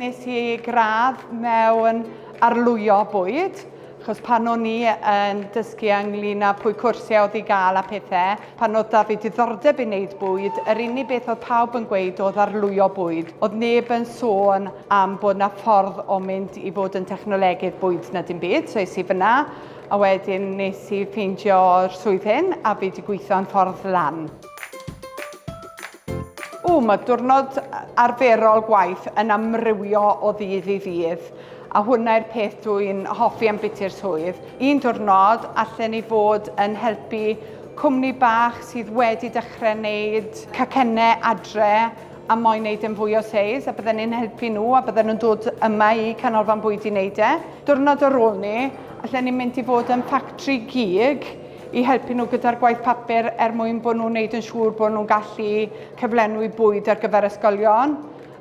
Nes i gradd mewn arlwyo bwyd, achos pan o'n i yn dysgu ynglyn â pwy cwrsiau oedd i gael a pethe, pan oedd 'da fi diddordeb i wneud bwyd, yr unig beth oedd pawb yn gweud oedd arlwyo bwyd. Oedd neb yn sôn am bod 'na ffordd o mynd i fod yn technolegydd bwyd na dim byd, so es i fyna a wedyn nes i ffeindio'r swydd hyn a fi 'di gweithio'n ffordd lan. Ww, mae diwrnod arferol gwaith yn amrywio o ddydd i ddydd, a hwnna yw'r peth dw i'n hoffi am biti'r swydd. Un diwrnod, allen i fod yn helpu cwmni bach sydd wedi dechrau wneud cacennau adre a moyn wneud e'n fwy o seis, a bydden i'n helpu nhw a bydden nhw'n dod yma i Canolfan Bwyd i wneud e. Diwrnod ar ôl 'ny, allen i mynd i fod yn ffactri gig, i helpu nhw gyda'r gwaith papur er mwyn bod nhw'n neud yn siŵr bod nhw'n gallu cyflenwi bwyd ar gyfer ysgolion.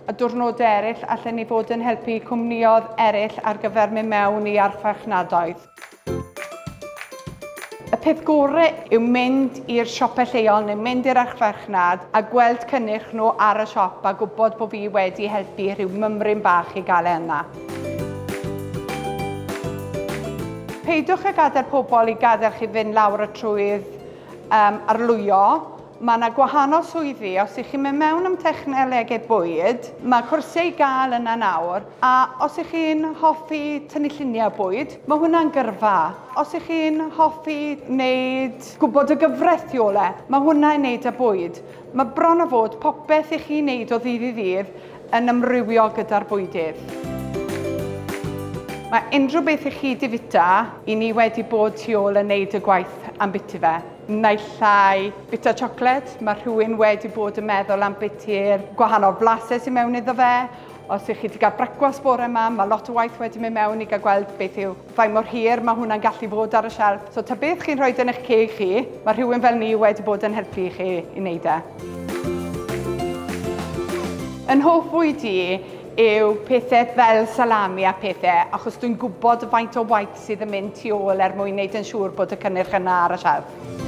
A diwrnodau eraill, allen ni fod yn helpu cwmniodd eraill ar gyfer mynd mewn i archfarchnadoedd. Y peth gore yw mynd i'r siopau lleol neu mynd i'r archfarchnad a gweld cynnyrch nhw ar y siop a gwybod bod fi wedi helpu rhyw mymryn bach i gael e yna. Peidiwch a gadael pobl i gadael chi fynd lawr y trwydd um, arlwyo. Mae yna gwahanol swyddi, os ych chi'n mynd mewn am technolegau bwyd, mae cwrsiau i gael yna nawr, a os ych chi'n hoffi tynnu lluniau bwyd, mae hwnna'n gyrfa. Os ych chi'n hoffi wneud gwybod y gyfraith tu ôl e, mae hwnna i wneud â bwyd. Mae bron o fod popeth i chi wneud o ddydd i ddydd yn amrywio gyda'r bwydydd. Mae unrhyw beth i chi di fita, i ni wedi bod tu ôl yn neud y gwaith am biti fe. Naill ai bita siocled, mae rhywun wedi bod yn meddwl am biti'r gwahanol flasau sy'n mewn iddo fe. Os ych chi wedi cael brecwast bore yma, mae lot o waith wedi mynd mewn i gael gweld beth yw faint mor hir mae hwnna'n gallu bod ar y shelf. So ta beth chi'n rhoi yn eich ceg chi, mae rhywun fel ni wedi bod yn helpu i chi i wneud e. Yn hoff fwyd i yw pethau fel salami a pethau, achos dwi'n gwybod y faint o waith sydd yn mynd tu ôl er mwyn wneud yn siŵr bod y cynnyrch yna ar y siarf.